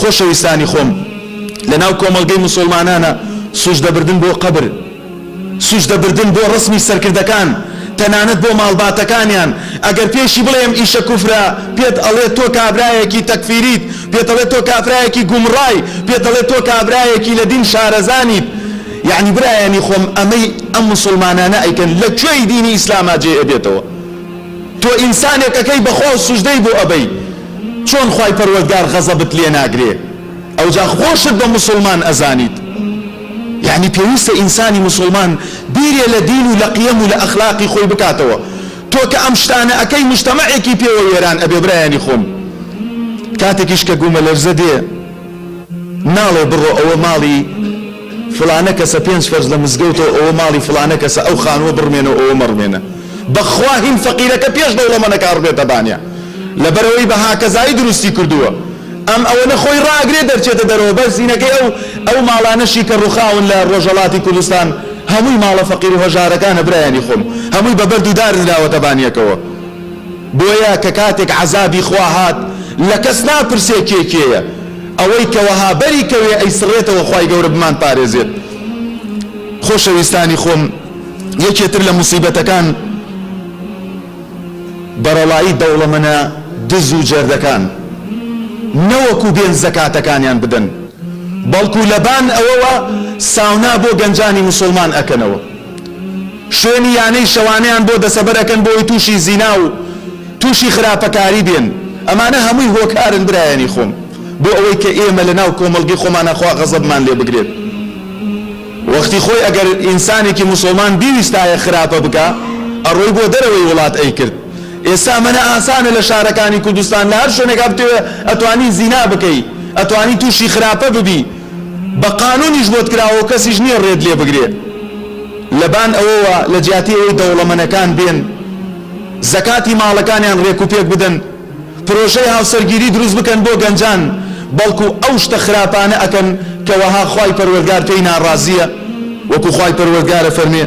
خۆشەویستانی خۆم لەناو کۆمەڵگەی مسوڵمانانا سوژدە بردن بۆ قەبر سوژدە بردن بۆ ڕسمی سەرکردەکان تەنانەت بۆ ماڵباتەکانیان ئەگەر پێشی بڵێم ئیشە کوفرە پێت ئەڵێ تۆ کابرایەکی تەکفیریت پێت ئەڵێ تۆ کافرایەکی گومڕای پێت ئەڵێ تۆ کابرایەکی لە دین شارەزانیت یعنی برایانی خۆم ئەمەی ئەم مسلمانانە ئەیکەن لە کوێی دینی ئیسلاما جێ ئەبێتەوە تۆ ئینسانێک ئەکەی بەخواو سوژدەی بۆ ئەبەی چۆن خوای پەروەردگار غەزەبت لێ ناگرێ ئەوجا خۆشت بە موسوڵمان ئەزانیت یەعنی پێویستە ئینسانی موسوڵمان بیرێ لە دین و لە قیەم و لە ئەخلاقی خۆی بکاتەوە تۆ کە ئەم شتانە ئەکەی مجتەمەعێکی پێوە وێران ئەبێ برایانی خۆم کاتێکیش کە گومەلەرزە دێ ناڵێ بڕۆ ئەوە ماڵی فڵانە کەسە پێنج فەرز لە مزگەوتە و ئەوە ماڵی فڵانە کەسە ئەو خانووە بڕمێنە و ئەوە مەڕمێنە بەخوا هین فەقیرەکە پێش دەوڵەمەنەکە ئەڕبێتە بانیا لەبەرئەوەی بە هاکەزایی دروستی کردووە ئەم ئەوەنە خۆی ڕاگرێ دەرچێتە دەرەوە بەس هینەکەی ئەو ئەو ماڵانەشی کە ڕوخاون لە ڕۆژەڵاتی کوردستان هەمووی ماڵە فەقیر و هەژارەکانە برایانی خۆم هەمووی بە بەرد و دار نراوەتە بانیەکەوە. بۆیە کە کاتێک عەزابی خوا هات لە کەس ناپرسێ کێ کێیە ئەوەی کە وەها بەری کەوێ ئەیسڕێتەوە خوای گەورە بمان پارێزێت خۆشەویستانی خۆم یەکێ تر لە موسیبەتەکان بەڕەڵایی دەوڵەمەنە دز و جەردەکان نەوەکو بێن زەکاتەکانیان بدەن بەڵکو لەبان ئەوەوە ساونا بۆ گەنجانی موسڵمان ئەکەنەوە. شوێنی یانەی شەوانەیان بۆ دەسەبەر ئەکەن بۆ ئەوەی توشی زینا و توشی خراپەکاری بێن ئەمانە هەمووی هۆکارن برایانی خۆم بۆ ئەوەی کە ئێمە لە ناو کۆمەڵگەی خۆمانا خوا غەزەبمان لێ بگرێت وەختی خۆی ئەگەر ئینسانێکی موسڵمان بیویستایە خراپە بکا ئەڕۆی بۆ دەرەوەی وڵات ئەیکرد ئێستا مەنە ئاسانە لە شارەکانی کوردستان لە هەر شوێنێکا بتەوێ ئەتوانی زینا بکەی ئەتوانی توشی خراپە ببی بە قانونیش بۆت کراوەو کەسیش نیە رێت لێ بگرێ لەبان ئەوەوە لەجیاتی ئەوەی دەوڵەمەنەکان بێن زەکاتی ماڵەکانیان رێکوپێک بدەن پرۆژەی هاوسەرگیری دروست بکەن بۆ گەنجان بەڵکو ئەو شتە خراپانە ئەکەن کە وەها خوای پەروەردگار پێی ناڕازیە وەکو خوای پەروەردگار ئەفەرموێ.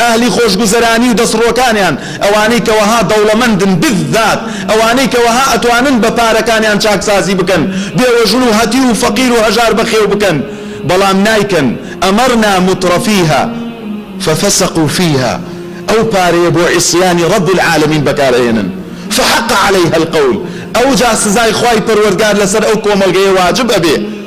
ئەهلی خۆشگوزەرانی و دەستڕۆکانیان، ئەوانەی کە وەها دەوڵەمەندن، بذات ئەوانەی کە وەها ئەتوانن بە پارەکانیان چاکسازی بکەن، بێوەژن و هەتیو و فەقیر و هەژار بەخێو بکەن، بەڵام نایکەن، امرنا مترفیها ففسقوا فیها، ئەو پارەیە بۆ عصیانی رب العالمین بەکار ئەهێنن، فحق علیها القول، ئەوجا سزای خوای پەروەردگار لەسەر ئەو کۆمەڵگەیە واجب ئەبێ،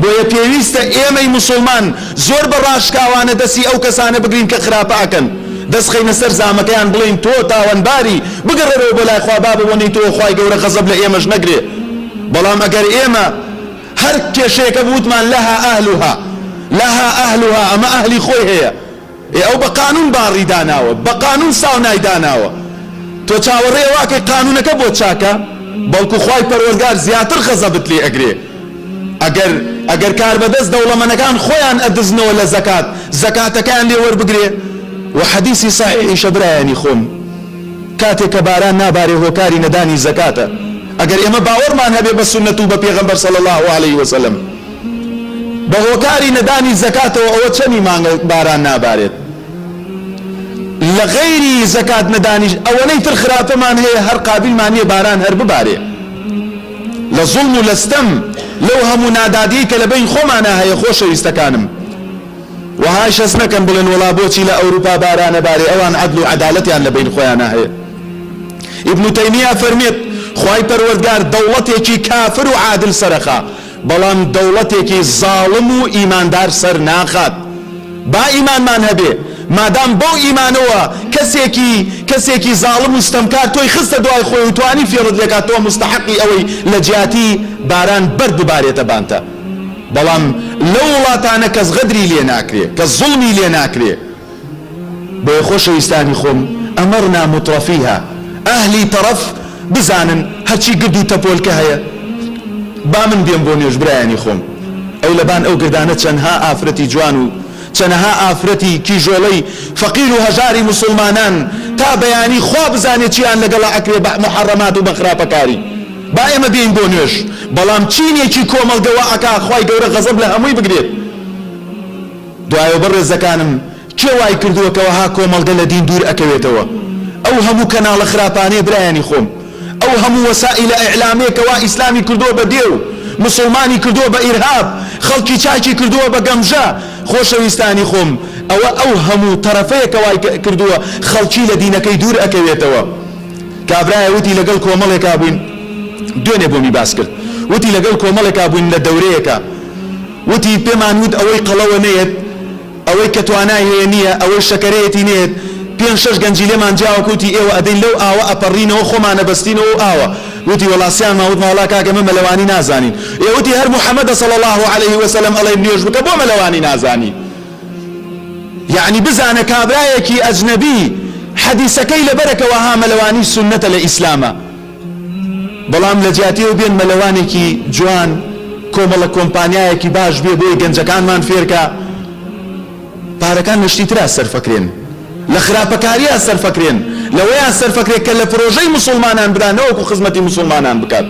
بۆیە پێویستە ئێمەی موسڵمان زۆر بە ڕاشکاوانە دەستی ئەو کەسانە بگرین کە خراپە ئەکەن دەست خەینە سەر زامەکەیان بڵێین تۆ تاوانباری بگەڕێرەوە بۆ لای خوا بابە بۆ نیتۆوە خوای گەورە غەزەب لە ئێمەش نەگرێ بەڵام ئەگەر ئێمە هەر کێشەیەکە بوتمان لەها اهلها لەها اهلها ئەمە ئەهلی خۆی هەیە. ئێ ئەو بە قانون باڕی داناوە بە قانون ساونای داناوە تۆ چاوەڕێی ئەوە ئەکەی قانونەکە بۆت چاکە بەڵکو خوای پەروەرگار زیاتر غەزەبت لێ ئەگرێ ئەگەر ئەگەر کاربەدەست دەوڵەمەنەکان خۆیان ئەدزنەوە لە زەکات زەکاتەکەیان لێ وەربگرێ وە حەدیسی سەحیحیشە برایانی خۆم کاتێ کە باران نابارێ هۆکاری نەدانی زەکاتە ئەگەر ئێمە باوەڕمان هەبێ بە سوننەت و بە پێغەمبەر صلی اللە علیە وسلم بە هۆکاری نەدانی زەکاتەوە ئەوە چەنی مانگە باران نابارێت لە غەیری زەکات نەدانیش ئەوەنەی تر خراپەمان هەیە هەر قابلمان نییە باران هەر ببارێ لە زوڵم و لەستەم لەو هەموو نادادی کە لە بین خۆمانە هەیە خۆشەویستەکانم وەهای شەست نەکەن بڵێن وەڵا بۆچی لە ئەوروپا بارانە بارێ ئەوان عەدل و عەدالەتیان لە بین خۆیانە هەیە ئیبن تەیمیە فەرمێت خوای پەروەردگار دەوڵەتێکی کافر و عادل سەرەخا بەڵام دەوڵەتێکی زاڵم و ئیماندار سەر ناخات. با ئیمانمان هەبێ، مادام بەو ئیمانەوە کەسێکی کەسێکی زاڵم و ستەمکار تۆی خستە دوای خۆی و توانی فێڵت لێکات تۆ موستەحەقی ئەوەی لە جیاتی باران بەرد ببارێتە بانتە. بەڵام لەو وڵاتانە کەس غەدری لێ ناکرێ، کەس زوڵمی لێ ناکرێ. بۆیە خۆشەویستانی خۆم امرنا مترفیها اهلی تەڕەف بزانن هەرچی گرد و تەپۆلکە هەیە با من بێم بۆ نوێژ برایانی خۆم ئەو لەبان ئەو گردانە چەنها ئافرەتی جوان و چەنەها ئافرەتی کیژۆڵەی فەقیر و هەژاری موسوڵمانان تا بەیانی خوا بزانێ چیان لەگەڵا ئەکرێ بە محەڕەمات و بە خراپەکاری با ئێمە بێین بۆ نوێژ بەڵام چینێکی کۆمەڵگە وا ئەکا خوای گەورە غەزەب لە هەمووی بگرێت. دوایەو بەڕێزەکانم کێ وای کردووە کە وەها کۆمەڵگە لە دین دوور ئەکەوێتەوە ئەو هەموو کەناڵە خراپانەیە برایانی خۆم ئەو هەموو وەسائیلە ئیعلامەیە کە وا ئیسلامی کردووە بە دێو موسڵمانی کردووە بە ئیرهاب خەڵکی چاکی کردووە بە گەمژە خۆشەویستانی خۆم ئەوە ئەو هەموو تەرەفەیە کە وای کردووە خەڵکی لە دینەکەی دوور ئەکەوێتەوە کابرایە وتی لەگەڵ کۆمەڵێکا بووین دوێنێ بۆمی باس کرد وتی لەگەڵ کۆمەڵێکا بووین لە دەورەیەکا وتی، پێمان وت ئەوەی قەڵەوە نەیەت، ئەوەی کە توانای هەیە نییە، ئەوەی شەکەرەیەتی نەیەت، پێنج شەش گەنجی لێمان جیاوە کە وتی ئێوە ئەدەین لەو ئاوە ئەپەڕینەوە خۆمان ئەبەستینەوە و ئاوە، وتی وەڵا سیانمان وتمان وەڵا کاکە ئێمە مەلەوانی نازانین، ئێ وتی هەر محمدە صلی اللە علیە و سلم ئەڵێن نوێژ بکە بۆ مەلەوانی نازانی؟ یەعنی بزانە کابرایەکی ئەجنەبی حەدیسەکەی لەبەرە کە وەها مەلەوانی سوننەتە لە ئیسلامە. بەڵام لە جیاتی ئەو بێن مەلەوانێکی جوان کۆمەڵە کۆمپانیایەکی باش بێ بۆی گەنجەکانمان فێرکا پارەکان لە شتی ترا سەرفەکرێن لە خراپەکاریا سەرفەکرێن لەوەیا سەرفەکرێ کە لە پرۆژەی مسوڵمانان برا نەوەکو خزمەتی مسوڵمانان بکات.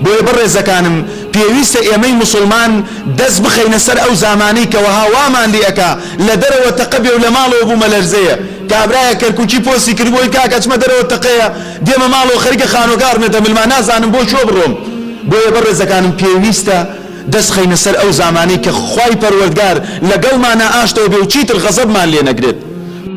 بۆیە بەڕێزەکانم پێویستە ئێمەی موسڵمان دەست بخەینە سەر ئەو زامانەی کە وەها وامان لێ ئەکا لە دەرەوە تەقە بێ و لە ماڵەوە بوومەلەرزەیە کابرایەک کەرکوکی پۆستی کردبوو ئەی کاکە ئەچمە دەرەوە تەقەیە دێمە ماڵەوە خەریکە خانوەکە ئەڕمێتە ملما نازانم بۆ کوێ بڕۆم بۆیە بەڕێزەکانم پێویستە دەست خەینە سەر ئەو زامانەی کە خوای پەروەردگار لەگەڵمانا ئاشتەوە بێ و چیتر غەزەبمان لێ نەگرێت.